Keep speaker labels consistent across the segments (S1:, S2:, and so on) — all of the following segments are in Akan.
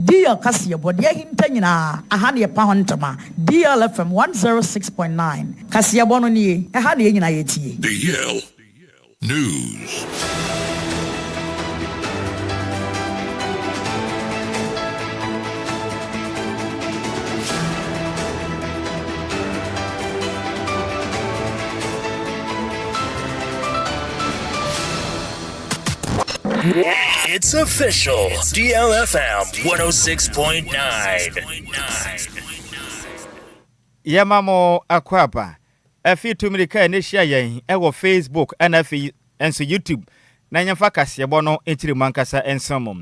S1: Dear Kaseɛbɔ deɛ ahinta nyinaa aha na yɛpa ho ntoma DL FM 106.9 Kaseɛbɔ no nie ɛha na yɛn nyinaa yɛtie. DL
S2: News.
S3: It's official. DLFM 106.9.
S4: Yɛma mo akwaaba afei tu mmirika a ɛne hyia yɛn wɔ Facebook ɛna afei nso YouTube na yɛmfa kaseɛbɔ no nkyiri mu ankasa nso mu.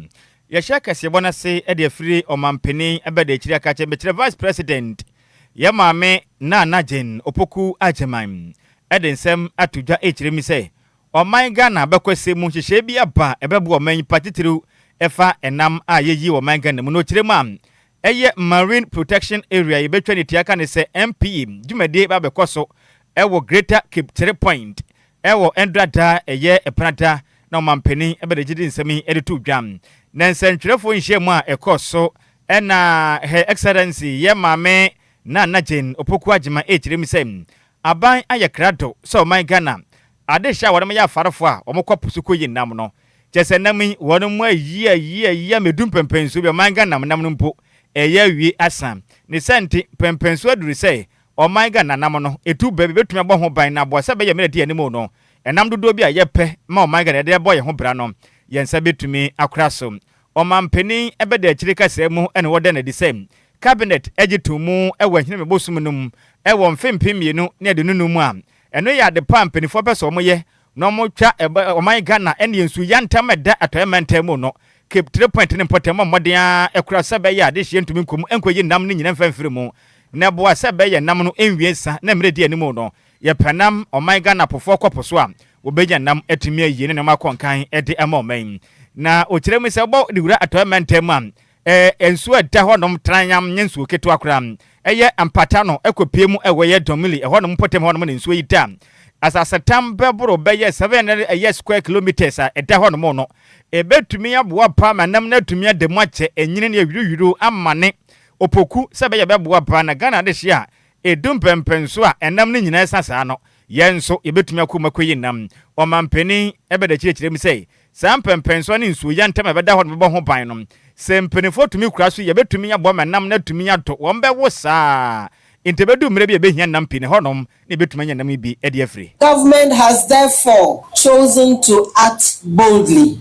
S4: Yɛhyɛ kaseɛbɔ no ase de afiri ɔmampanin abɛda akyiri aka kyɛ mekyerɛ Vice President yɛ maame Nana Jane Opoku Agyeman ɛde nsɛm ato dwa ɛkyerɛ mi sɛ Ɔman Ghana abakɔsɛm mu nhyehyɛe bi aba a ɛbɛboa ɔman yi pa titiriw ɛfa ɛnam a yɛyi wɔ ɔman Ghana mu no kyerɛ mu a ɛyɛ Marine Protection Area a yɛbɛtwa no tua ka ne sɛ MPA dwumadie bɛba abɛkɔ so wɔ Greater Cape Three Point wɔ Ndra da a ɛyɛ Ɛpena da na Ɔmanpanin bɛde agyede nsɛm yi de too dwa ne nsɛntwerɛfoɔ nhyiamu a ɛkɔɔ so na Her Excellency Yɛn Maame Nana Jane Opoku Agyemang kyerɛ mu sɛ Aban ayɛ krado sɛ ɔman Ghana adehyɛ a wɔde ma yɛ afarefo a wɔkɔ po so koyi nam no. Kyerɛ sɛ nam yi wɔde mu ayi ayi ayi ama edu mpɛnpɛnsoɔ bi a ɔman Ghana nam nam no mpo ɛyɛ awie asa. Ne saa nti mpɛnpɛnsoɔ aduru sɛ ɔman Ghana nam no etu bɛ bɛbɛtumi abɔ ho ban na aboa sɛ bɛyɛ mmerɛ adi anim no nam dodoɔ bi a yɛpɛ ma ɔman Ghana yɛde bɔ yɛn ho bra no yɛn nsa bɛtumi akora so. Ɔmanpanin bɛda akyire kaseɛ mu na wɔda no adi sɛ Cabinet gye too mu wɔ Ahinime bosome no mu wɔ mfe mpem mmienu ne aduonu-num mu a ɛno yɛ adepa a mpaninfoɔ pɛ sɛ wɔyɛ na wɔtwa ɔman Ghana ne nsu yantam a ɛda Atɔeɛ mantam mu no Cape Three Point ne mpɔtam bɔ mmɔden ara kora sɛ ɛbɛyɛ a adehyeɛ ntumi nkɔ mu nkɔyi nam no nyina mfa mfiri mu na ɛboa sɛ ɛbɛyɛ nam no nwie sa na mmerɛ ɛdi anim no Yɛpɛ nam ɔman Ghana pofoɔ kɔ po so a, wɔbɛnya nam atumi ayie ne nnoɔma akɔ nkan de ama ɔman yi. Na ɔkyerɛ mu sɛ wobɔ de wura Atɔeɛ mantam mu a, ɛɛ nsuo a ɛda hɔnom tranyam nyɛ nsuo ketewa koraa. Ɛyɛ mpata no ɛkɔpue mu wɔ ɛyɛ Domili ɛhɔnom mpɔtam hɔnom na nsuo yi da. Asasetam bɛboro bɛyɛ 700 ɛyɛ square kilometres a ɛda hɔnom no. Ɛbɛtumi aboa paa ma nam no atumi ada mu akyɛ, ɛnyini ne ɛhwirihwiro amane, opoku sɛ ɛbɛyɛ ɛbɛboa paa na Ghana adehyeɛ a Edu mpɛnpɛnso a ɛnam no nyinaa sa saa no, yɛn nso yebetumi akɔ mu akoyi nam. Ɔmampanyin Ebede kyerɛkyerɛ mu sɛ, Saa mpɛnpɛnso a ne nsuoyɛ ntam a ɛbɛda hɔ no bɛbɔ ho ban no. Sɛ mpanyimfo tumi kura so yebetumi aboa ma nam no atumi atɔ, wɔbɛwo saa ara. Enti ebedu mmere bi a ebehia nam pii na ɛhɔnom na yebetumi anya nam yi bi de afiri. Government has
S5: therefore chosen to act boldly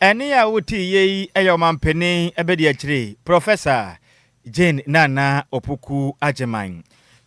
S4: Ɛnne a wotiiɛ yi yɛ Ɔmampanin Abadiakyire Prɔfɛsa Jane Nana Opoku Agyeman.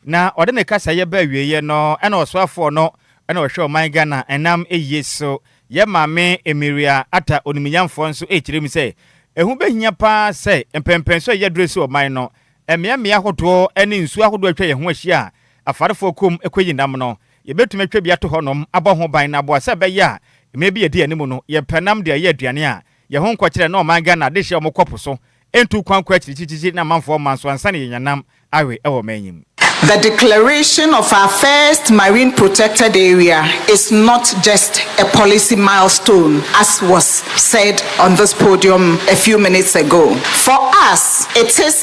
S4: Na ɔde ne kasaeɛ baa awieeɛ no na Ɔsoafoɔ no na ɔhwɛ ɔman Ghana ɛnam ayie so. Yɛn Maame Emiria Atta Onimnyamfoɔ nso rekyerɛ mu sɛ ɛho bɛhia pa ara sɛ mpɛnpɛnso a yɛduru asi ɔman no mmeammea ahodoɔ ne nsuo ahodoɔ a atwa yɛn ho ahyia a afarefoɔ kɔ mu kɔyi nam no Yebetumi atwa bi ato hɔnom abɔ ho ban na aboa sɛ ɛbɛyɛ a mmere bi a edi anim no yɛmpɛ nam de ayɛ aduane a yɛn ho nkɔ kyerɛ na ɔman Ghana adehye a wɔkɔ po so ntu kwan kɔ akyirikyirikyiri ne amanfoɔ mma nso ansa na yɛanya nam awe wɔ ɔman yi mu. The declaration
S6: of our first marine protected area is not just a policy milestone as was said on this podium a few minutes ago. For us, it is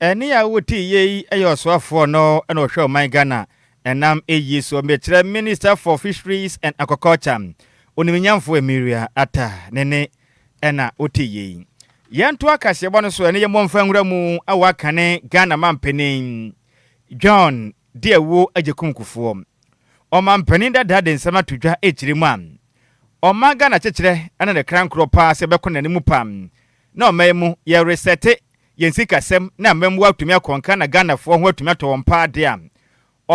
S4: Ɛne a wo ti yɛ yi yɛ ɔsoafoɔ no na ɔhwɛ ɔman Ghana ɛnam ɛyi so mekyerɛ Minister for Fisheries and Aquaculture Oniminyamfoɔ Emiria Atta Nene ɛna ɔti yɛ yi. Yɛnto akaseɛbɔ no so ɛne yɛmmɔ mfa nwura mu a wakane Ghana Mampanin John de awuo agye kum kufoɔ. Ɔmampanin dada de nsɛm ato dwa ɛkyire mu a ɔma Ghana kyekyerɛ ɛna ne kra nkorɔ paa sɛ ɛbɛkɔ n'anim paa. na ɔma yi mu yɛ resɛte yɛn sikasɛm na amammuo atumi akɔ nka na Ghanafoɔ ho atumi atɔ wɔn paa deɛ a,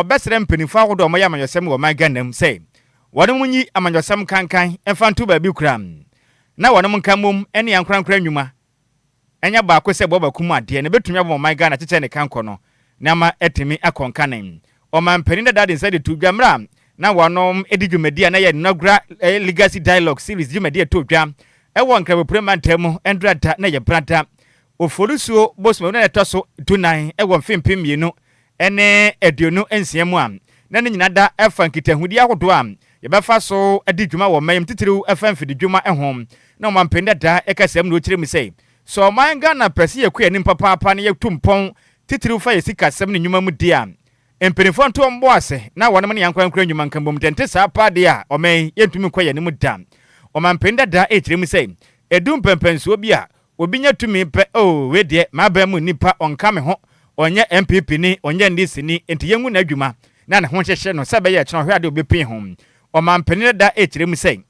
S4: ɔbɛsrɛ mpaninfoɔ ahodoɔ a wɔyɛ amanyɔsɛm wɔ ɔman Ghana mu sɛ wɔnom nyi amanyɔsɛm nkankan mfa nto baabi koraa na wɔnom nka mmom ne ankorankora nnwuma nyɛ baako sɛ boaba kum adeɛ na ɛbɛtumi abɔ ma ɔman Ghana akyekyɛ ne kankɔ no na ama atumi akɔ nka ne Ɔmanpanin dada de nsa de too dwa mmerɛ a na wɔnom di dwumadie a na ɛyɛ Nɔgra Legacy Dialogue Series dwumadie a ɛtoo dwa wɔ Nkrabopure mantam mu Ndrata ne Yɛprata Oforisuo bosome wɔ ne da a ɛtɔ so dunan wɔ mfe mpem mmienu ne aduonu nsia mu a na ne nyinaa da fa nkitahodie ahodoɔ a yɛbɛfa so adi dwuma wɔ ɔman yi mu titiriw ɛfa mfididwuma ho na Ɔmanpanin dada kasamu no ɔkyerɛ mu sɛ Sɛ ɔman Ghana pɛ sɛ yɛkɔ yɛn anim papaapa na yɛtu mpɔn titiriw fa yɛ sikasɛm ne nnwuma mu de a, mpanyimfoɔ nto wɔn bo ase na wɔne ne ankorankoro nnwuma nka mmom, deɛ ɛnte saa paa deɛ a, ɔman yi, yɛntumi nkɔ yɛn anim da. Ɔmanpanin dada rekyerɛ mu sɛ, Ɛdu mpɛnpɛnsoɔ bi a, obi nya tumi pɛ, oo, wei deɛ, m'aban mu nipa, ɔnka me ho, ɔnyɛ NPP ni, ɔnyɛ NDC ni, enti yɛngu n'adwuma na ne ho nhyehye no sɛ ɛbɛyɛ a ɛkyena ɔhwɛ adeɛ a ɔbɛpue ho. Ɔmanpanin dada rekyerɛ mu sɛ.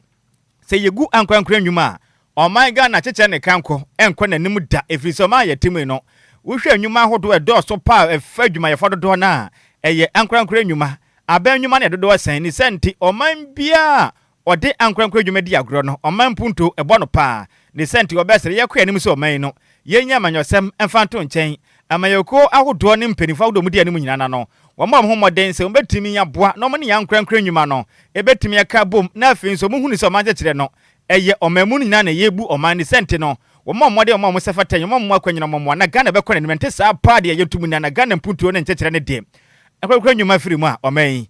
S4: Sɛ yegu ankorankoro nnwuma a, ɔman Ghana kyekyɛ ne kanko nkɔ n'anim da ɛfiri sɛ ɔman a yɛte mu yi no, wohwɛ nnwuma ahodoɔ a ɛdɔɔso paa a ɛfa adwumayɛfoɔ dodoɔ no a, ɛyɛ ankorankoro nnwuma. Aban nnwuma no yɛ dodoɔ sɛn? Ne saa nti, ɔman biara a ɔde ankorankoro nnwuma di agorɔ no, ɔman mpuntuo bɔ no paa. Ne saa nti, wɔbɛsrɛ yɛkɔ yɛn anim sɛ ɔman yi no, yɛnyi amanyɔsɛm mfa nto nkyɛn Amanyɔkuo ahodoɔ ne mpaninfoɔ ahodoɔ a wɔdi anim nyinaa no ano, wɔbɔ wɔn ho mmɔden sɛ wɔbɛtumi aboa na wɔn ne yɛn ankorankora nnwuma no bɛtumi aka abom na afei nso wɔhunu sɛ ɔman kyekyerɛ no ɛyɛ ɔman mu no nyinaa na ɛyɛ bu ɔman ne sɛ nti no wɔbɔ wɔn mmɔden wɔn a wɔsɛ fata nyɛ wɔn mmoa kwan nyinaa wɔn mmoa na Ghana bɛkɔ n'anim ɛnte saa paa deɛ yɛto mu nyinaa na Ghana mpuntuo ne nkyekyerɛ no deɛ ankorankora nnwuma firi mu a ɔman yi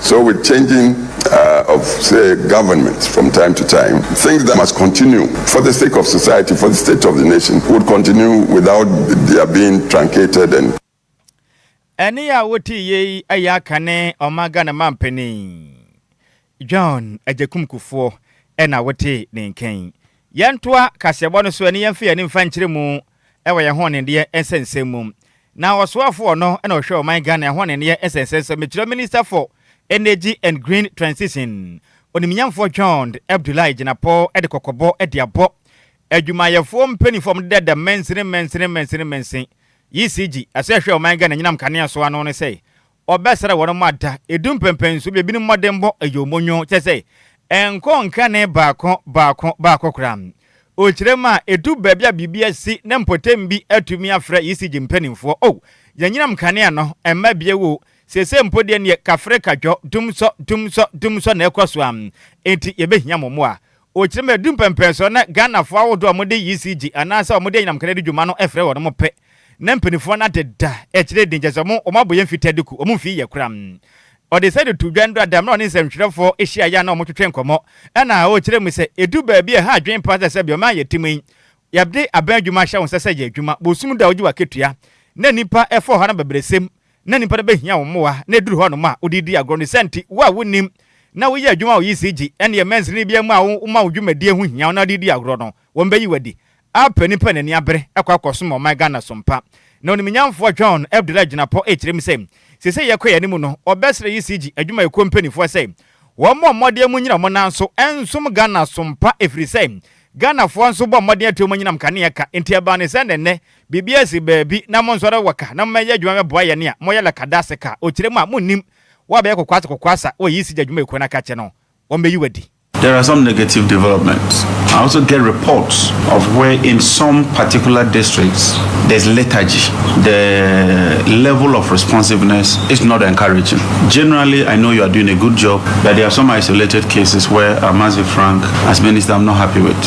S7: So with changing uh, of say government from time to time, things that must continue for the sake of society, for the state of the nation, would continue without their being truncated and. Ɛne
S4: a wote yei ɛyɛ aka ne ɔman Ghana mampanin John Agyekum Kufuor ɛna wote ne nkan. Yɛntoa kaseɛbɔ no so ɛne yɛmfa yɛn ani mfa nkyerɛ mu wɔ yɛn hoɔnendeɛ nsɛnsɛm mu. Na ɔsoafoɔ no na ɔhwɛ ɔman Ghana ɛhoɔnendeɛ nsɛnsɛm so, mekyerɛ Minister for Energy and Green Transition, Onimnyamfoɔ John Abdullahi Gyinapɔ de kɔkɔbɔ de abɔ adwumayɛfoɔ mpaninfoɔ a wɔde dada mansini mansini mansini mansin, ECG, asɛ ɛhwɛ ɔman Ghana anyinam kanea so ano no sɛ Wɔbɛsra wɔn ma da edu mpɛmpɛn so, ebinom mmɔdenbɔ yɛ wɔn nwonwo, kyerɛ sɛ, ɛnkɔ nkanee baako baako baako koraa. Okyerɛ mu a, edu baabi a biribi asi na mpɔtam bi atumi afrɛ ECG mpanimfoɔ, Oh, y'anyinam nkanea no mma bio o, seesei mpo deɛ neɛ kafre kadwɔ, dum sɔ, dum sɔ, dum sɔ na ɛrekɔ so ara, enti yɛbɛhia mo mmoa. Ɔkyerɛ mu sɛ, ɛduru mpɛnpɛnsoɔ no na Ghanafoɔ ahodoɔ a wɔde ECG anaasɛ wɔde anyinam kane di dwuma no frɛ wɔn pɛ na mpanimfoɔ no adeda akyire den kyerɛ sɛ wɔn wɔn abɔ yɛn fi tadiku, wɔn mfii yɛ koraa. Ɔde saa de too dwa no da a na ɔne nsɛntwerɛfoɔ hyiaeɛ a na wɔtwetwe nkɔmmɔ ɛna ɔkyerɛ mu sɛ, ɛduru baabi a ɛha adwene paa sɛ sɛdeɛ ɔman a yɛte mu yi yɛde abɛn adwuma ahyɛ wo nsa sɛ yɛ adwuma, bosom da a wogye w'akatua na nnipa fa ɔhaw na abɛbrɛsɛm na nnipa no behia wo mmoa, na eduru hɔnom a, wode redi agorɔ no sɛ nti, wo a wunnim na woyɛ adwuma wɔ ECG, ɛnneɛ mansini biara mu a woma wo dwumadie ho hia wo na wode redi agorɔ no, wɔbɛyi wo adi. App a nnipa a n'ani abere kɔ akɔsom ɔman Ghana som pa. Na onimnyamfoɔ John Abdullah Agyinapɔ rekyerɛ mu sɛ, seesei yɛkɔ yɛn anim no, wɔbɛsrɛ ECG adwumayɛkuo mpanimfoɔ sɛ wɔmmɔ mmɔden mu nnyina wɔn nan so nsom Ghana som pa ɛfiri sɛ, Ghanafoɔ nso bɔ mmɔden atua wɔn anyinam kanea ka, enti ɛbaa no sɛ na ɛnnɛ Biribiara si baabi na monsɔre wɔ ka na mommɛyɛ adwuma mmɛboa yɛn a moyɛ lakadase ka okyerɛ mu a monnim woabɛyɛ kokoase kokoasa wɔ yisi gyadwuma ekuo no aka kyɛ no wɔmmɛyi wo adi. There are some negative
S8: developments. I also get reports of where in some particular districts there's lethargy. The level of responsiveness is not encouraging. Generally, I know you are doing a good job, but there are some isolated cases where Amazi Frank, as minister, I'm not happy with.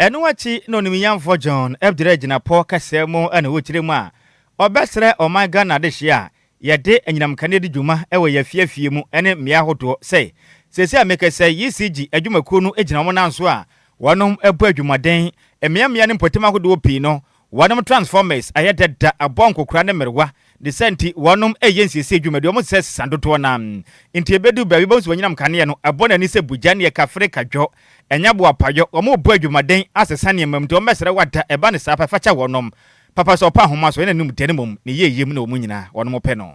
S8: Ɛno akyi
S4: na onimyɛnfo John bgyina gyina pɔ kɛseɛ mu na ɔkyerɛ mu a ɔbɛsrɛ ɔman Ghana adehyeɛ a yɛde anyinam nkanea di dwuma wɔ yɛn afie afie mu ne mmea ahodoɔ sɛ, Seesei a mekɛsɛ yi ECG adwumakuo no gyina wɔn nan so a wɔnom bɔ adwumaden, mmea mmea ne mpɔtam ahodoɔ pii no Wɔnom transformers ayɛ dada abɔ nkokora ne mmerewa, ne saa nti wɔnom reyɛ nsiesie adwuma, deɛ wɔn sesa sesa dodoɔ no ara nti ɛbɛduru baabi wobɛhu sɛ wɔn anyinam nkaneɛ no abɔ n'ani sɛ bugya ne ɛka fere ka dwɔ, ɛnyɛ boapayɔ, wɔn rebɔ adwumaden asesa nneɛma mu nti wɔn bɛsrɛ wo ada, ɛba no saa pɛ, fa kyɛ wɔnom, papa so, ɔpɛ ahoma so, ɛna ne nimdeɛ ne mmom ne yieyie mu na wɔn nyinaa wɔnom pɛ no.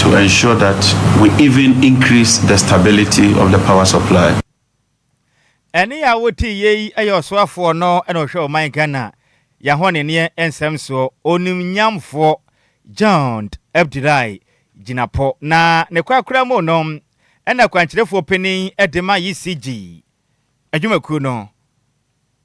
S8: to ensure that we even increase the stability of the power supply.
S4: Ɛne a wotee yei yɛ ɔsoafoɔ no na ɔhwɛ ɔman Ghana yɛahɔneneɛ nsɛm soɔ, Onimnyamfoɔ Jond Abdullahi Jinapor. Na ne korakora mu no na kwankyerɛfoɔ panin dema yi CG. Adwumakuo no,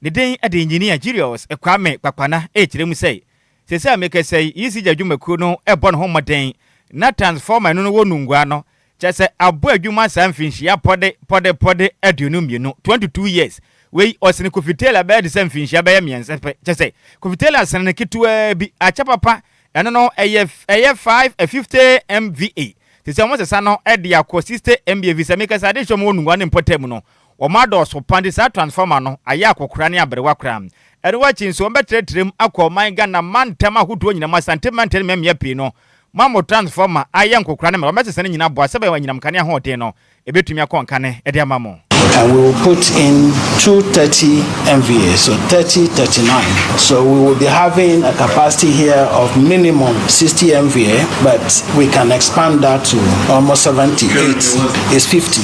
S4: ne din de Engineer Julius Kwame Kpakpana rekyerɛ mu sɛ, Seesei a mekasa yi, ECG adwumakuo no rebɔ ne ho mmɔden na transformer a ɛno no wɔ Nungua no, kyerɛ sɛ abɔ adwuma saa mfinhyia pɔde pɔde pɔde aduonu mmienu, 22 years, wei ɔsene Kofi Taylor bɛyɛ te sɛ mfinhyia bɛyɛ mmiɛnsa pɛ, kyerɛ sɛ Kofi Taylor sene no ketewaa bi, akyɛ papa, ɛno no ɛyɛ ɛyɛ 550 MVA, seesei wɔresesa no de akɔ 60 MVA efisɛ mekasa yi adehyɛ a wɔwɔ Nungua no mpɔtam no, Wɔadɔɔso pa nti saa transformer no ayɛ akɔkora ne aberewa koraa. Ɛno akyi nso wɔbɛtrɛtrɛm akɔ ɔman Ghana mantam ahodoɔ nyinaa mu Asante mantam ne mmɛmmea pii no mu ama transformer ayɛ nkɔkora ne mmerɛ wɔbɛsesa ne nyinaa aboa sɛbɛn anyinam nkanea ahoɔden no ɛbɛtumi akɔ nkane de ama mo. And we will put
S9: in two 30 MVA so 30 39 so we will be having a capacity here of minimum 60 MVA but we can expand that to almost 78 is 50.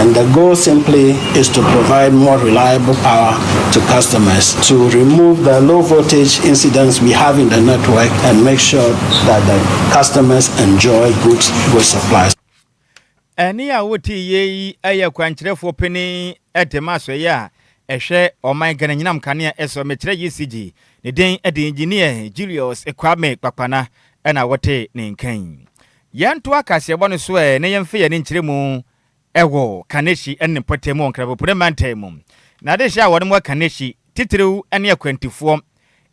S9: And the goal simply is to provide more reliable power to customers to remove the low voltage incidents we have in the network and make sure that the customers enjoy good, good supplies.
S4: Ɛne a wote yei ɛyɛ kwankyerɛfoɔ panin de ma asɔeɛ a ɛhwɛ ɔman Ghana nyinam kanea ɛsɔ mekyerɛ ECG ne den de engineer Julius Kwame Kpakpana ɛna wote ne nkan. Yɛntoa kaseɛbɔ no so ɛ na yɛmfa yɛn ani nkyerɛ mu wɔ Kaneshie ne ne mpɔtam wɔ Nkrabopure mantam mu. N'adehye a wɔnom wɔ Kaneshie titiriw ne akwantufoɔ,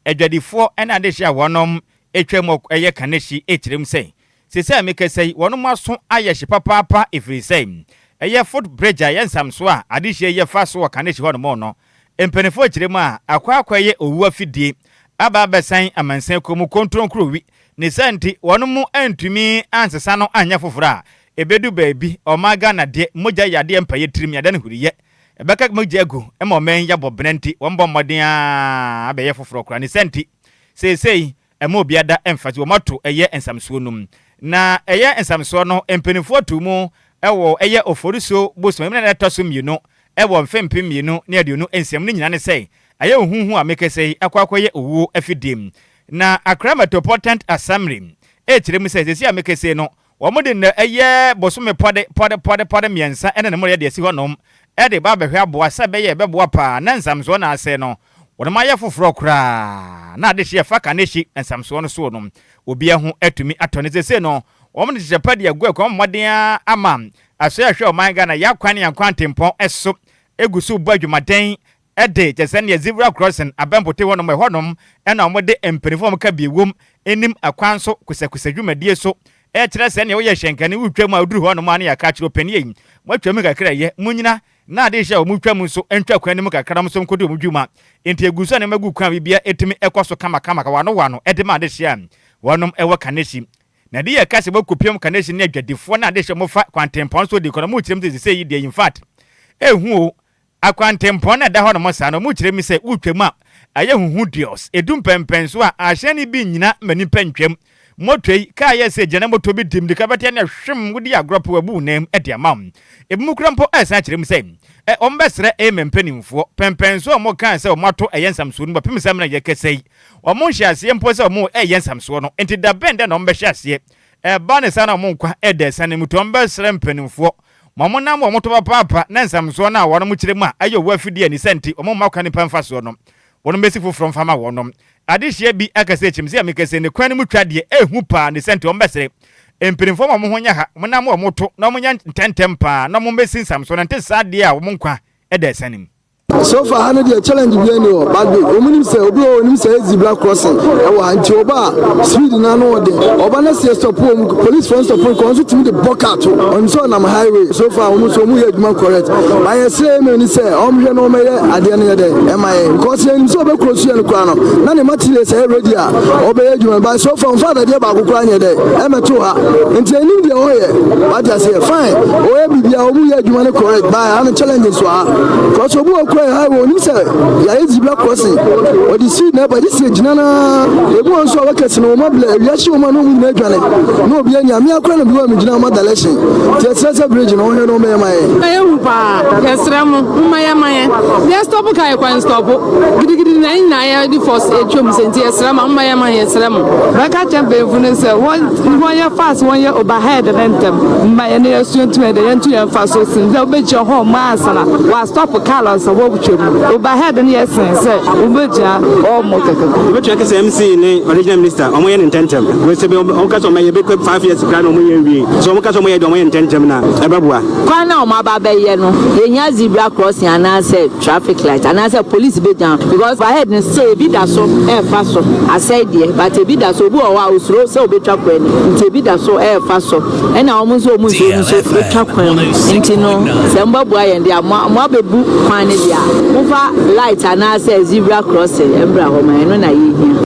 S4: adwadifoɔ ne adehye a wɔnom twa mu yɛ Kaneshie kyerɛm sɛ, Seesei a mekasa yi, wɔnom aso ayɛ hye papaapa ɛfiri sɛ ɛyɛ foot bridge a ɛyɛ nsamsoɔ a adehyeɛ yi fa so wɔ Kaneshie hɔnom no. Mpanyimfo rekyerɛ mu a, akɔ akɔyɛ owu afidie aba abɛsɛn amansan kuo mu kontronkuro wi, ne saa nti wɔn mo antumi ansesa no anyɛ foforɔ a, ɛbɛdu baabi ɔmaa Ghana deɛ mogya yɛ adeɛ mpaeɛ tirim yɛ adeɛ ne huriyɛ ɛbɛka mogya agu ma ɔman yi abɔ bena nti wɔn bɔ mmɔden ara abɛyɛ foforɔ koraa ne saa nti seesei Ɛmma obia da ɛmfa dze wɔn ato ɛyɛ nsamsoɔ no mu. Na ɛyɛ nsamsoɔ no mpaninfoɔ too mu wɔ ɛyɛ Oforisuo bosome mu na ɛda ɛtɔ so mmienu wɔ mfe mpem mmienu ne aduonu nsia mu ne nyinaa ne sɛ ayɛ ohuhu a mekɛsɛ yi akɔ akɔyɛ owuo afidie. Na Accra Metropolitant Assembly rekyerɛ mu sɛ seesei a mekɛsɛ yi no Wɔde nnɛ ɛyɛ bosome pɔde pɔde pɔde pɔde mmiɛnsa ne ne mmerɛ de asi hɔnom de ba abɛhwɛ aboa sɛ ɛbɛyɛ a ɛbɛboa pa ara na nsamsoɔ no asɛe no. Wɔnom ayɛ foforɔ koraa na adehye a ɛfa Kanehye nsamsoɔ no soɔ no obiara ho atumi atɔ no. Seesei no wɔde nhyehyɛ pa de agu akwan mu mmɔden ara ama Asoɛe a ɛhwɛ ɔman Ghana yɛ akwan ne ankwan ntempɔn so gu so rebɔ adwumaden de kyɛ sɛnea Zebra Crossing abɛmpote hɔ nom, ɛhɔ nom na wɔde mpanyimfo a wɔka bi wom nim akwan so kosɛkosɛ dwumadie so kyerɛ sɛnea woyɛ hyɛnkani, wotwam a woduru hɔ nom a na yɛaka akyerɛ ɔpanin ei, moatwam kakra ɛyɛ, monnyina na ade rehyɛ a wɔretwam nso ntwa kwan no mu kakra na wɔn nso nkɔdi wɔn dwuma. Enti ɛgu so a nneɛma gu kwan a biribiara tumi kɔ so kamakama kawanoano de ma adehyeɛ a wɔnom wɔ Kaneshie. Na deɛ yɛka sɛ wɔkɔpiam Kaneshie ne adwadifoɔ ne adehyeɛ wɔfa kwantempɔn so di nkɔnɔ mu kyerɛm sɛ seesei yi deɛ infact ɛhu o Akwantempɔn na ɛda hɔnom saa no, mokyerɛ me sɛ wotwam a, ayɛ huhu deos, edu mpɛnpɛn so a, ahyɛn no bi nnyina ma nnipa ntwam. Motwei, kaa yɛ sɛ gyana moto bi di mmirika fɛtɛɛ na hwim wodi agorɔ pɛ wɔabu wo nan mu de ama wo. Ebi mu kora mpo ɛresan akyerɛ mu sɛ ɛ, wɔbɛsrɛ ɛ, me mpanimfoɔ. Pɛnpɛn so a wɔkaa sɛ wɔato ɛyɛ nsamsoɔ no bɛpem sɛ me na yɛrekasa yi. Wɔnhyɛɛ aseɛ mpo sɛ wɔreyɛ nsamsoɔ no, enti da bɛn dɛ na wɔbɛhyɛ aseɛ? Ɛba ne saa na wɔn nkwa ɛreda asiane mu nti wɔbɛsrɛ mpanimfoɔ. Wɔnam wɔn tɔ papaapa ne nsɛmsoɔ no a wɔkyerɛ mu a ɛyɛ owó afidie a ne sɛ nti wɔmma kwan nnipa mfa soɔ no, wɔmmɛsi foforɔ mfa mma wɔn. Adehyeɛ bi ka sɛ, Kyɛm sɛ meka sɛ ne kwan no mu twa deɛ ɛyɛ hu paa, ne sɛ nti wɔmmɛsere mpanimfoɔ ma wɔn ho nyɛ ha, wɔnam wɔn tɔ na wɔnyɛ ntɛmntɛm paa na wɔmmɛsi nsɛmsoɔ no, ɛnte saa deɛ a wɔn nkwa da asiane mu. So far ha
S10: no deɛ challenge bi ɛni hɔ but bi wɔn nim sɛ obi wɔ wɔn nim sɛ ɛyɛ zebra crossing ɛwɔ ha nti ɔba a speed na ano ɔde ɔba na sɛ stop wɔn police fo stop wɔn kɔn so tumi de bɔ car to wɔn sɛ ɔnam highway so far wɔn nso wɔn yɛ adwuma correct ba yɛ sɛ ɛmɛ ni sɛ wɔn hwɛ na wɔn ɛyɛ adeɛ no yɛ dɛ ɛma yɛ nkɔsi yɛ nim sɛ ɔbɛ kuro so yɛ no kora no na ne material sɛ ɛyɛ ready a ɔbɛyɛ adwuma ba so far wɔn fa adadeɛ baako kora nyɛ dɛ ɛmɛ to ha nti ɛnim deɛ ɔyɛ wate aseɛ fine ɔyɛ biribi a wɔn yɛ adwuma no correct ba ha no challenge nso ha. kɔsɛ obi wɔ kura yɛ ha wɔn nim sɛ yɛayɛ zibla kɔsi ɔde si na ɛbɛgye si gyina na ebi wɔn nso a wɔkɛse no wɔn abila ewia si wɔn a na wɔn nyinaa adwane na obi anya mmea kura na bi wɔn gyina wɔn adalɛsi te ɛsɛ sɛ bridge na wɔhwɛ na wɔn yɛ ma yɛ. ɛyɛ hu paa
S11: yɛsrɛ mo mma yɛ ma yɛ yɛ stɔpo ka yɛ kwan stɔpo gidigidi na yɛn nyinaa yɛ de fɔs atwam sɛ nti yɛsrɛ mo mma yɛ ma yɛ srɛ mo. bɛka kyɛ mpanyinfo no sɛ wɔn wɔn yɛ fast wɔn yɛ overhead ne ntɛm mma yɛ ne yɛ suo ntum yɛ dɛ yɛn ntu yɛn fa so sin bɛgyina hɔ ɔmo ansa na wa stop car no ansa wɔtwa mu overhead no yɛ sen sɛ ɔmo bɛgyina ɔmo kɛkɛ. Wobɛtumi aka sɛ MC
S12: ne original minister ɔmo yɛ ne ntɛntɛm wɔsɛ bi ɔmo ka sɛ ɔmo yɛ bɛkɔ five years kura na ɔmo yɛ nwie so ɔmo ka sɛ ɔmo yɛ deɛ ɔmo yɛ ntɛntɛm na ɛbɛboa. Kwan na ɔmo aba
S13: bɛyɛ no yɛhia zebra crossing anaasɛ traffic light anaasɛ police bɛgyina hɔ because overhead no sɛ ebi da so ɛɛfa so asɛe deɛ but ebi da so obi wɔ hɔ a osuro sɛ obɛtwa kwan no nti ebi da so ɛɛfa so. ɛna wɔn nso wɔn nsuo no nso bɛtwa kwan mu nti no sɛ mobɛboa yɛn deɛ mo mo abɛbu kwan no deɛ a mofa light anaasɛ zebra crossing mbra hɔ ma ɛno na yɛhia.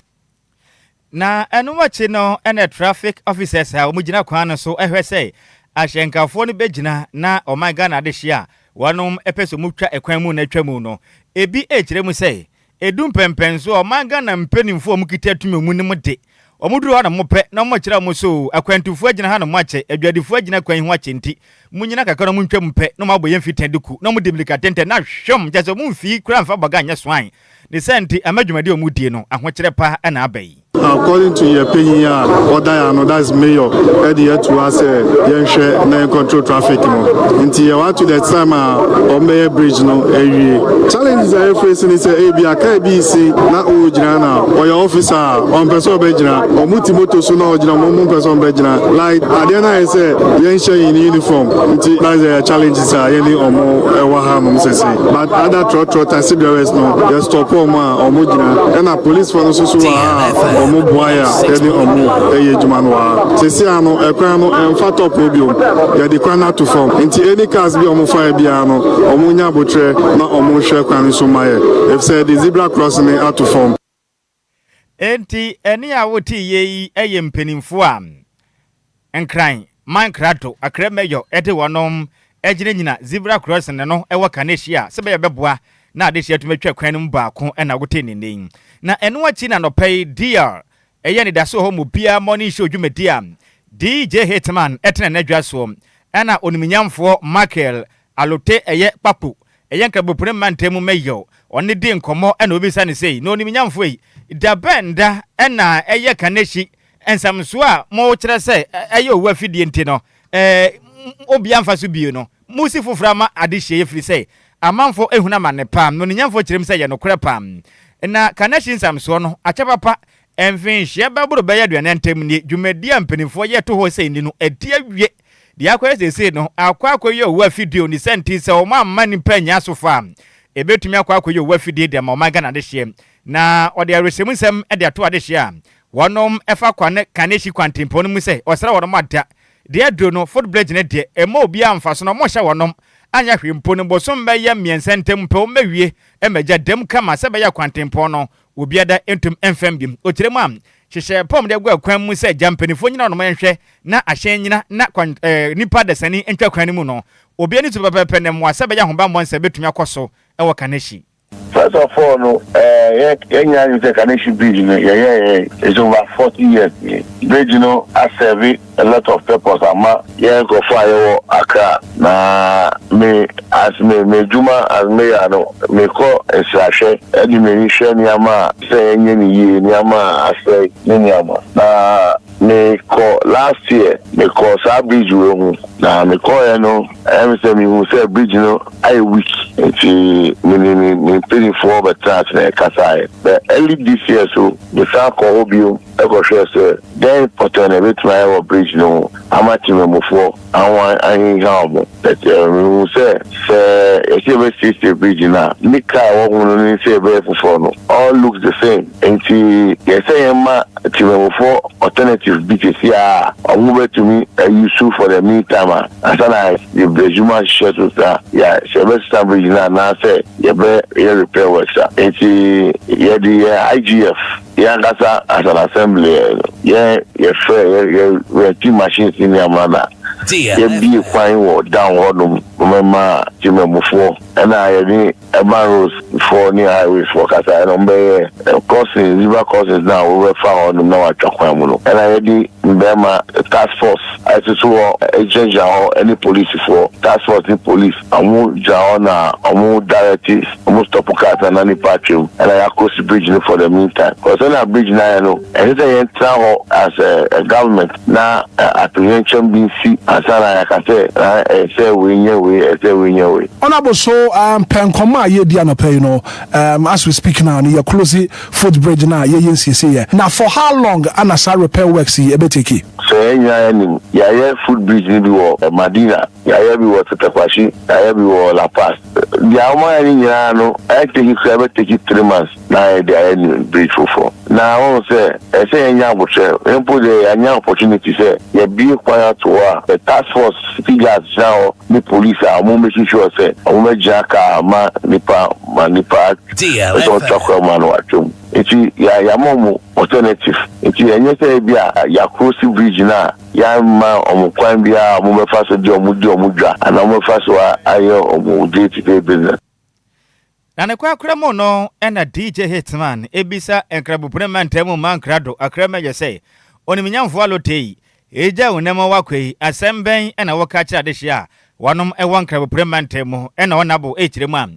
S13: Na
S4: ɛno akyi no ɛna traffic officers a wɔn gyina kwan no so ɛhwɛ sɛ ahyɛnkafoɔ no bɛgyina na ɔman Ghana adehyeɛ a wɔnom ɛpɛ sɛ wɔn twa ɛkwan mu na atwa mu no ebi ɛkyerɛ mu sɛ Edu mpɛnpɛn so a ɔman Ghana mpaninfoɔ a ɔmo kita tumi mu no mo de, ɔmo duru hɔ a na mo pɛ na ɔmo kyerɛ ɔmo so oo, akwantufoɔ agyina ha na ɔmo akyɛ, adwadifoɔ agyina kwan yi ho akyɛ nti, mo nyina kakra na ɔmo ntwa mu pɛ na ɔmo abɔ yɛn fi tɛn de ku, na ɔmo di mirika tɛntɛn na hwom, kyerɛ sɛ ɔmo mfii koraa mfa bɔga nyɛ swan, ne saa nti ama dwumadi a ɔmo die no ahokyerɛ pa na aba yi. According to yɛ
S14: panyin a ɔda yɛ ano that is mayor ɛde ato ha sɛ yɛnhwɛ na yɛn control traffic no nti yɛ wa to the time a wɔn bɛyɛ bridge no awie challenges a yɛ face ne sɛ ebi a car bi si na ɔwɔ gyina na ɔyɛ officer a ɔmpɛ sɛ ɔbɛ gyina wɔn ti moto so na ɔgyina wɔn mpɛ sɛ ɔbɛ gyina like adeɛ no ayɛ sɛ yɛnhyɛ yɛn uniform nti na yɛ challenges a yɛne wɔn ɛwɔ ha nom sɛsɛ but other trɔtrɔ taxi drivers no yɛ stop wɔn a. ɔmo gyina ɛna polisfoɔ no soso wɔ ha a ɔmo boa yɛ a yɛde ɔmo ɛyɛ adwuma no wɔ ha sisi a no ɛkwan no ɛmfa tɔpoo biom yɛde kwan no ato fam nti any cars bi a ɔmo fa yɛ biara no ɔmo nya abotrɛ na ɔmo hwɛ kwan no so ma yɛ efisɛ yɛde zebra cross no ato fam.
S4: Enti ɛne a wote yɛ yi yɛ mpaninfoɔ a. Nkran, man krado akra mayor de wɔnom gyina nyina zebra crossing no no wɔ ka no ahyia a sɛ bɛyɛ bɛboa na adehyɛ atumi atwa kwan no mu baako na wotee ne nne yi. Na ɛno akyi na anɔpa yi DR ɛyɛ anidaso wɔ hɔ ma obiara morning show dwumadi a DJ Hitman tena n'adwa soɔ ɛna oniminyamfoɔ Michael Alote ɛyɛ Kpakpo ɛyɛ Nkrabopone mantam mu mayor ɔne no di nkɔmmɔ ɛna obisa no sei na oniminyamfoɔ yi dabɛn da ɛna ɛyɛ ka no ahyi Nsɛmso a mokyerɛ sɛ ɛyɛ owu afidie nti no obiara mfa so bio no, mosi foforɔ ama adehyeɛ ɛfiri sɛ amanfoɔ ahunu amane paa. Nnɔneyɛmfoɔ kyerɛ mu sɛ ɛyɛ nokorɛ paa. Na Kanehyi nsɛmsoɔ no akyɛ papa. Mfinhyeɛ bɛboro bɛyɛ aduanan ntam nie, dwumadie a mpanimfoɔ yɛ to hɔ sɛ ɛnni no, adi awie. Deɛ akɔyɛ seesei no, akɔ akɔyɛ owu afidie o, ne sɛ nti sɛ wɔn amma nnipa annya asofo a, ɛbɛtumi akɔ akɔyɛ owu afidie de ama ɔman Ghana adehyeɛ. Na ɔde awerɛhyɛmu nsɛm de ato adehyeɛ a wɔnom fa kwa ne Kaneshie kwantempɔn no mu sɛ ɔsra wɔnom ada. Deɛ aduro no, foot bridge no deɛ, ɛmma obiara mfaso na wɔnhyɛ wɔnom anyɛ hwee mpo no, bosom bɛyɛ mmiɛnsa ntam pɛ wɔbɛwie magya dam kama sɛ ɛbɛyɛ a kwantempɔn no Obiada ntum mfa mu bio. Okyerɛ mu a, hyehyɛ pɔm de gua kwan mu sɛ gya mpanyimfoɔ nyina hɔnom nhwɛ na ahyɛn nyina na kwan eh, nnipa dasani ntwa kwan no mu no. Obiara ne su pɛpɛɛpɛ na mmoa sɛ bɛyɛ ahobammɔ nsɛ bɛtumi akɔ so wɔ Kaneshie. First of all
S15: no eh, yɛ yɛnyɛ adwene sɛ Kaneshie bridge no yɛyɛɛɛ is over 40 years nie. Bridge no asɛve. A lot of purpose ama yɛn nkorɔfoɔ a yɛwɔ Accra na me as me m'adwuma as mayor no me kɔ nsrahwɛ ɛde m'ani hwɛ nneɛma a sɛ yɛnyɛ no yie nneɛma a asɛe ne nneɛma na me kɔ last year me kɔ saa bridge wei ho na me kɔɔɛ no ɛyɛ me sɛ me hu sɛ bridge no ayɛ weak nti me ne me mpanifoɔ bɛtena ase na yɛ kasaeɛ na early this year so me san kɔ hɔ bio. kɔhwɛɛ sɛ dɛn pɔtee na ebetumi ayɛ wɔ bridge no ho ama temamufo ahoan ahinhaw mo. Mihu sɛ, sɛ yɛse yɛbɛsiesie bridge no a, nika a ɛwɔ ho no ne sɛ yɛbɛyɛ foforo no, all looks the same. Enti yɛ sɛ yɛmma temamufo alternative bi sɛsi ara a wɔbɛtumi a use for the mean time a ansa na yɛde adwuma ahyehyɛ so sɛ sɛ yɛbɛsesa bridge no anaasɛ yɛbɛyɛ repair works a. Enti yɛde yɛn IGF. Yɛn ankasa as an assembly no yɛn yɛ frɛ yɛ yɛ rent machines ne nneɛma na yɛ bie kwan wɔ down hɔ nom mɛma temamufoɔ ɛna yɛ ne urban roads foɔ ne highways foɔ kasa ɛna wɔn bɛyɛ crossings river crossings na wɔn bɛfa hɔ nom na wɔn atwa kwan mu no ɛna yɛ de mbɛɛma task force ɛsoso hɔ ɛgyinagyina hɔ ɛne police foɔ task force ne police. Ɔmo gyina hɔ na ɔmo direct ɔmo stop cars na nipa atwa mu na yɛ across bridge no for the mean time cos sɛnea bridge no ayɛ no ɛnsɛ sɛ yɛn tena hɔ as a government na atoyerɛnkyɛm bi nsi ansa na yɛaka sɛ ɛɛ sɛ wei nyɛ wei ɛɛ sɛ wei nyɛ wei. Honourable so
S16: um pɛ nkɔmmɔ a yɛredi anɔpa yi no um as we speak now no yɛ close foot bridge no a yɛyɛ nsiesieɛ na for how long ana saa repair works yi ɛbɛ take? Sɛ yɛn nyinaa
S15: yɛnim yɛayɛ foot bridge no bi wɔ Madina. Yɛayɛ bi wɔ Cotapaxi, yɛayɛ bi wɔ La Paz. Deɛ wɔayɛ no nyinaa no, ɛteki koraa ɛbɛteki three months na yɛde ayɛ new bridge foforɔ. Na wohu sɛ ɛsɛ sɛ yɛnya aboterɛ. Yɛn mpo deɛ yɛanya opportunity sɛ yɛabue kwan ato hɔ a, yɛ task force security guards gyina hɔ ne police a wɔn making sure sɛ wɔbɛgyina kaa ma nipa ma nipa sɛ ɔtwa kwan mu a na watwa mu. Nti yɛama wɔn alternative. Nti ɛnyɛ sɛ ebia yɛacross bridge no a. Yɛamma wɔn kwan biara a wɔbɛfa so de wɔn di wɔn dwa anaa wɔbɛfa so ayɛ wɔn day to day business. Na
S4: ne korakora mu no na DJ Hitman bisa Nkraboprem mantam mu mmaa nkrado akramyɛ sɛ, Onimnyamfo Alotei, egya wo nnam a woakɔ yi, asɛm bɛn na woka kyerɛ adehye a wɔnom wɔ Nkraboprem mantam mu na wɔn abo kyerɛ mu a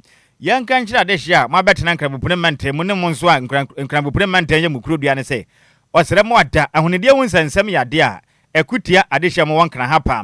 S4: yɛnka nkyerɛ adehye a moabɛtena Nkraboprem mantam mu ne mo nso a Nkraboprem mantam yɛ mo kurodua no sɛ, Ɔsrɛ mo ada. Ahonidie ho nsɛnsɛm yɛ adeɛ a ɛko tia adehyeɛ mu wɔ Nkran ha paa.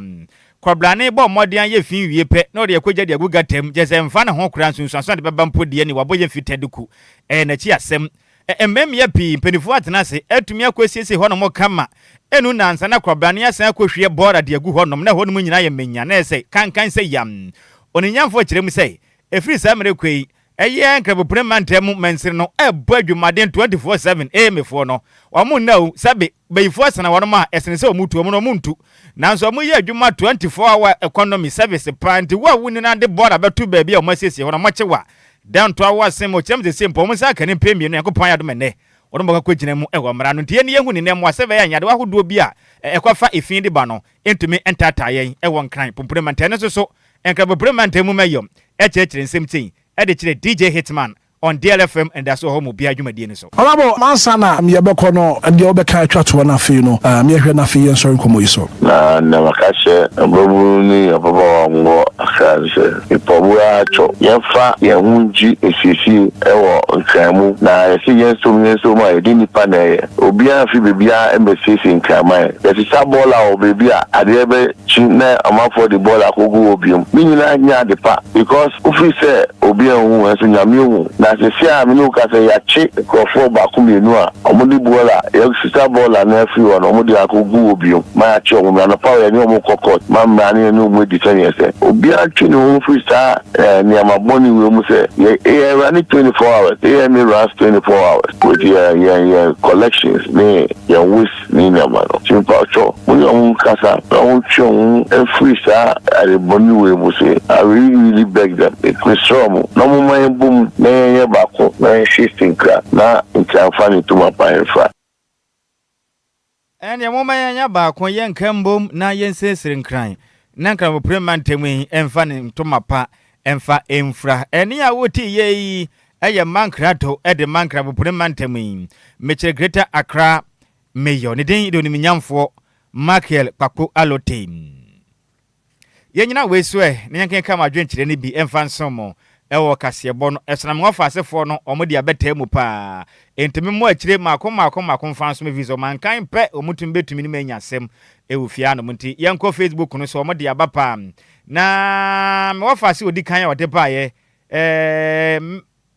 S4: Kɔbrane bɔ mmɔden ayɛ fi nwie pɛ na ɔde akogya de agu gata mu, gyesɛ ɛmfa ne ho koraa, nsunsuanso a ɛde bɛba mpo deɛ ni, wabɔ yɛn fi tɛduku. Ɛyɛ n'akyi asɛm. Ɛ mmɛ mmea pii, mpanifoɔ atena ase, atumi akɔ asiesie hɔ nom kama, ɛnu nansa na kɔbrane asan akɔ hwie bɔɔra de agu hɔ nom na ɛhɔ nom nyinaa ayɛ manya na ayɛ sɛ kankan sɛ yam. Oninyamfoɔ kyerɛ mu sɛ, ɛfiri saa mmerɛ kɔ yi, Ɛyɛ Nkrabopene mantam mu mansini no ɛbɔ adwumaden 24 seven ee mefoɔ no wɔn nna o sɛbe bayifoɔ asena wɔnom a ɛsene sɛ wɔn tu wɔn no wɔn ntu nanso wɔn yɛ adwuma 24 hour economy service paa nti wo a wonni na de bɔɔla bɛto baabi a wɔn asiesie hɔ no wɔkye wo a dɛn ntoa wo asen ma ɔkyerɛm sesie mpo wɔn nsa aka ne mpɛn mmienu Nyankopɔn ayɛ adom ɛnnɛ wɔnom bɛkɔ akɔgyina mu wɔ mmara no nti yɛn yɛhu ne nnɛ mmoa sɛbɛyɛ a nyadewa ahodoɔ bi a ɛkɔfa efi de ba no ntumi ntaataa yɛn wɔ Nkran Pumpuni Mantam no so so Nkran Pumpuni Mantam mu ma yɔm kyerɛkyerɛ nsɛm tei de kyerɛ DJ Hitman on DL FM Anidaso Ɔhɔ mu biara dwumadie no so. Ɔbabɔ, ansa na
S16: me yɛbɛkɔ no, deɛ wobɛka atwa toɔ na afei no me yɛhwɛ na afei yɛnsɔre nkɔmmɔ yi so. Na nea maka
S15: akyerɛ mmabunu ne ababaawa a wɔwɔ Accra ne sɛ. Mpɔbowa akyɔ yɛmfa yɛn ho ngye esiesie wɔ nkran mu na yɛse yɛnsom yɛnsom a yɛde nipa na ɛyɛ. Obiara mfi baabiara mmesiesie nkraman. Yɛsesa bɔɔla wɔ baabi a adeɛ bɛ kyi na ɔmanfoɔ de bɔɔla kogu hɔ biom. Ne nyinaa nyɛ ade pa because wofiri sɛ obiara nhu nso Nyame hu. Na sesie a mene wo kasa yi yakye nkurɔfoɔ baako mmienu a. Wɔde bɔɔla, yɛasesa bɔɔla no afiri hɔ na wɔde akɔgu hɔ bio ma yɛakye wɔn. Anɔpa a yɛne wɔn kɔ court ma mmara ne yɛne wɔn adi sɛdeɛ ɛsɛ. Obiara ntwe ne ho mfiri saa nneɛma bɔne wei mu sɛ yɛyɛ awura ne twenty four hours, yɛyɛ ne runs twenty four hours with yɛn yɛn yɛn collections ne yɛn waste ne nneɛma no. Nti mpakyɛw mo ne wɔn nkasa na wɔn ntwe wɔn ho mfiri saa ade bɔne wei mu sei. I really really beg them, mesrɛ wɔn. Na
S4: momma yɛmbɔ mu na yɛnyɛ baako na yɛnhwe Sinkra na Nkyɛanfa ne Tumapa mfra. Ɛnneɛ momma yɛnyɛ baako, yɛnka mbom na yɛnsiesie Nkran na Nkranboprem mantam yi mfa ne Ntomapa mfa mfra. Ɛnne a wote yɛ yi yɛ Mankra to de ma Nkranboprem mantam yi. Mekyerɛ Greater Accra Mayor, ne din de Onimnyamfoɔ Makiel Kpakpo Alotey. Yɛnnyina wei so ɛ na yɛnkenka mo adwenkyerɛ no bi mfa nsom mo wɔ kaseɛbɔ no so na me wɔfa asefoɔ no wɔn de abɛtaa mu paa enti me mmɔ akyire mako mako mako mfa nsom ɛfiri sɛ wɔn ankan pɛ wɔn tumi bɛtumi ne mo anya asɛm wɔ fie anom nti yɛnkɔ facebook no so wɔn de aba paa na me wɔfa ase ɔdi kan a ɔde baeɛ ɛɛ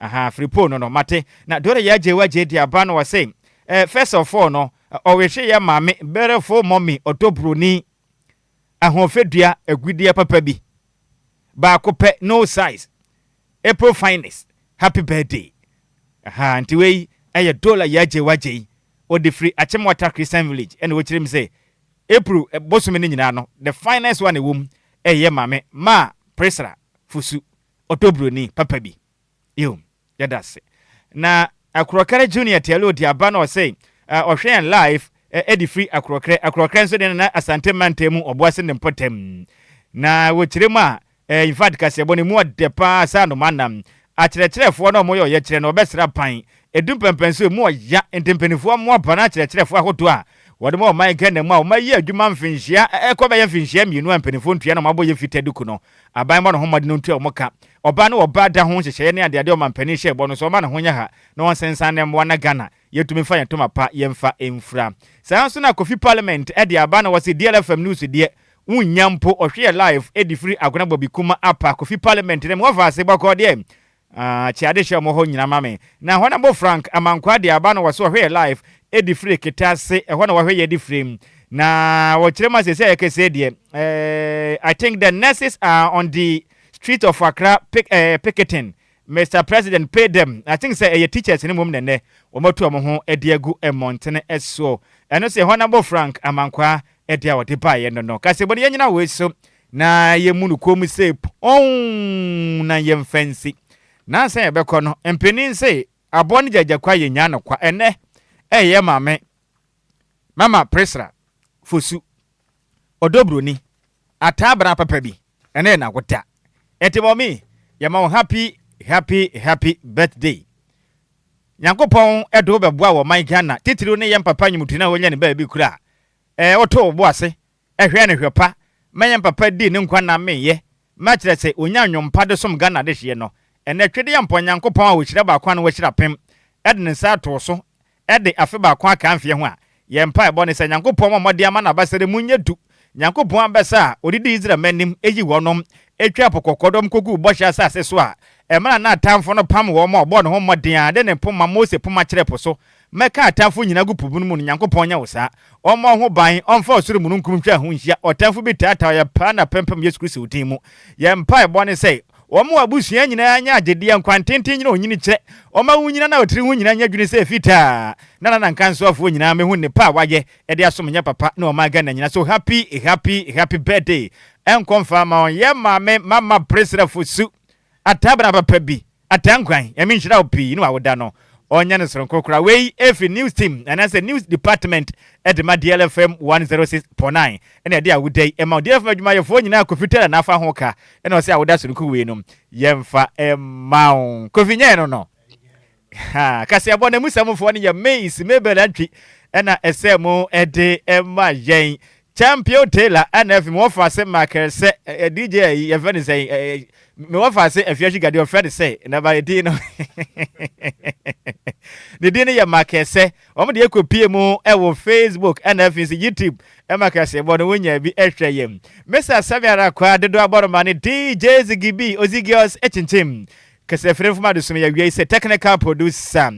S4: Ahaa firipoo no no mate na dore ya gye wa gye de aba na ɔse eh first of all no ɔrehwe ya maame beautiful mummy ɔdɔ broni ahoɔfɛdua agudeɛ papa bi baako pɛ no size April finest happy birthday ahaa nti wei ɛyɛ dore ya gye wa gye ɔde firi Akyemwata Christian village ɛna ɔkyerɛ mu sɛ April bosome no nyinaa no the finest one ɛwɔ mu ɛyɛ maame maa Priscilla Fosu. Ɔdɔ Buroni papa bi. Eom. Yɛda ase. Na Akorɔkɛrɛ Junior Tialoo de aba na ɔse ɔhwɛ yɛn live ɛde firi Akorɔkɛrɛ. Akorɔkɛrɛ nso deɛ na Asante mantam mu Ɔboase ne mpɔtam. Na wɔ kyerɛ mu a eh infact kaseɛbɔ no emu ɔdɛ paa saa no manam akyerɛkyerɛfoɔ na ɔmo yɛ ɔyɛkyerɛ no ɔbɛsra pan Edu mpɛnpɛn so emu ɔya nti mpanyinfoɔ mmoa bra na akyerɛkyerɛfoɔ ahodoɔ a wɔde ma ɔman Ghana mu a wɔayi adwuma mfinhyia a ɛrekɔ bɛyɛ mfinhyia mmienu a mpanyinfoɔ ntua na wɔabɔ yɛ fita duku no aban mmɔ no ho mmɔden ntua wɔn ka ɔbaa ne ɔbaa da ho nhyehyɛeɛ ne adeadeɛ a ɔmanpanin hyɛɛ bɔ no so ɔmma ne ho nyɛ ha na ɔnsensan nnɛ mmoa na Ghana yɛtumi mfa yɛn ntoma pa yɛmfa mfira saa nso na Kofi Parliament de aba na wɔse DLFM news deɛ wonnya mpo ɔhwe yɛ live ɛde firi Agona Bɔbi Kuma apa Kofi Parliament na mu wɔfa ase bɔkɔɔ deɛ Ahh kye ade hyɛ ɔmɔ hɔ nyina ma me na hɔ na bɔ frank ama nkwaa de aba na wɔ se ɔhwɛ yɛ life ɛdi fire kete ase ɛhɔ na wahwɛ yɛ de fire mu na wɔ kyerɛ mu a sese a yɛ kesee deɛ ɛɛɛ I think the nurses are on the street of Accra pick ɛɛɛ picketing Mister president pay them I think sɛ ɛyɛ teachers no mmom na ɛnɛ wɔn atu wɔn ho ɛde agu mmɔntene soɔ ɛno se ɛhɔ na bɔ frank ama nkwaa ɛde a wɔde baeɛ no no kasebɔ no yɛ nyina wei so Na yɛmmu no komm sɛ pɔnn na yɛmfa nsi. Nansa a yɛbɛkɔ no, mpanin se, Aboa no gyagya kwa yɛnyaa no kwa. Ɛnnɛ, ɛyɛ Maame, Mama Priscilla, Fosu, ɔdɔ buroni, ataa bra papa bi, ɛnnɛ yɛ n'awoda. Enti Mɔmi, yɛma wo happy, happy, happy birthday. Nyankopɔn de wo bɛboa wɔ ɔman Ghana, titiriw ne yɛn papa Nyimutuni a wanya ne baabi kura a, ɛɛ wotoo wo bo ase Ɛhwɛ no hwɛ pa, mɛyɛ mpapa dii ne nkwa na menyɛ, mɛkyerɛ se onya nnwom pa de som Ghana dehyeɛ no. Ɛnɛ Twede yɛ mpɔ Nyankopɔn a ohyira baako ano wahyira apem, ɛde ne nsa too so, ɛde afe baako akaa mfeɛ ho a. Yɛn mpaebɔ ne sɛ Nyankopɔn mmɔ mmɔden ama n'abasa de mu nyɛ du. Nyankopɔn abasa a odidi Israel mma anim eyi wɔnom etwaa po kɔkɔɔ dɔm koguu bɔhyɛ asase so a ɛmana n'atamfo no pam wɔn a ɔbɔɔ ne ho mmɔden a de ne poma Mose poma kyerɛɛ po so Mɛka atamfo nyinaa agu po bun mu no Nyankopɔn nyɛ wo saa Ɔmmɔ ho ban Ɔmfa ɔsoro mununkum nhwɛ ho nhyia ɔtamfo bi taataw yɛ paa na pɛmpɛm Yesu Kristo din mu Yɛn mpaebɔ ne sɛ wɔn abusua nyinaa nyɛ agyedeɛ Nkwantenten nyina onyini kyerɛ wɔn a wonyina na ɔtiri ho nyina nyɛ dwene sɛ fitaa Na nanankansoafoɔ nyinaa mehu nnepa a wayɛ de asom nyɛ papa ne ɔman Ghana nyina so happy happy happy birthday nkɔ mfa ma wɔn Yɛn maame mama presrɛfo su Ataa bra papa bi Ataa Nkwan Nyame nhyira wo pii ne w'awoda no ɔnyɛ no soronko koraa Wei firi news team anaasɛ news department de ma DLFM 106.9 na ɛde awoda yi ma wo DLFM adwumayɛfoɔ nyinaa Kofi Taylor na afa ho ka na ɔse awoda soronko wei no yɛmfa mma wo Kofi nyɛɛ no no Ha! Kaseɛbɔ no mu sɛmfoɔ no yɛ me, Ismebel Antwi na ɛsɛ mo de ma yɛn. Champion Taylor na afei me wɔfa ase Michael sɛ ɛ, DJ ayi yɛfrɛ no sɛn ɛ, me wɔfa ase Afia Sugar deɛ ɔfrɛ no sɛ na ba din no ne din no yɛ Michael sɛ wɔn deɛ kɔ pie mu wɔ Facebook na afei sɛ YouTube ɛma kaseɛbɔ no wonya bi ɛhwɛ yɛn. Mesa Sɛme Ara Kwa dodo abɔroma ne DJ Ziggy B, Ozigios kyinkyim. Kasafirin fam adesono yi awiei sɛ technical producer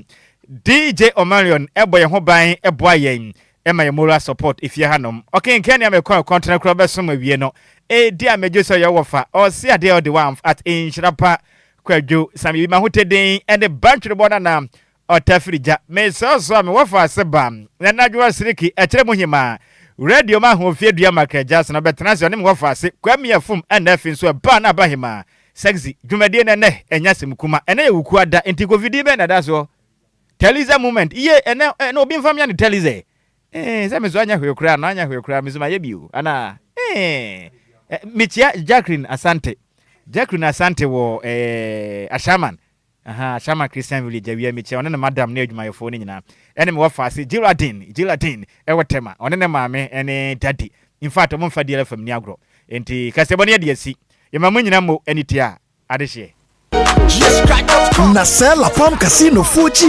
S4: DJ Omarion bɔ yɛn ho ban boa yɛn ma yɛn moral support efie hanom. Ɔkenkan nea mekɔ a ɛkɔn tena kura bɛsom awie no. Edi a megye so yɛ wɔfa ɔse adeɛ ɔde wamf at nhyira pa kwadwo sam yi mahoteden ne bantwerɛbɔ no anaa Ɔtafirigya, Mesrɛ wo soa me wɔfa ase ba Nanadwoa Siriki, Ɛkyerɛ mu Hemaa, Radio ma Ahoɔfie Dua Makra Gyaasa na ɔbɛtena ase ɔne me wɔfa ase Kwame Afum Ɛna afei nso ɛbaa na aba Hemaa, Sexy, dwumadie no ɛnɛ ɛnyɛ asɛmkuma ɛnɛ yɛ wukua da nti kofidie bɛn na ɛda soɔ Taliza Moment, Yie ɛnɛ ɛnɛ obi mfa mmea ne Taliza ɛ ee sɛ me so anyɛ hwee koraa no anyɛ hwee koraa me so mayɛ bi o anaa ee Mekyia Jacqueline Asante Jacqueline Asante wɔ ɛɛ Ashaiman Ahaa, Ashama Christian Village awia mekyia ɔne ne madam ne adwumayɛfoɔ no nyinaa ɛne me wɔfaase Geraldine, Geraldine, ɛwɔ Tema, ɔne ne maame ɛne Daddy, in fact ɔmo nfa Diela fam nni agorɔ, enti kaseɛbɔ no yɛde asi, yɛma mo nyina mo ani tua
S17: adehyeɛ. Na sɛ La Palm
S4: Casino
S17: foɔ gyeɛ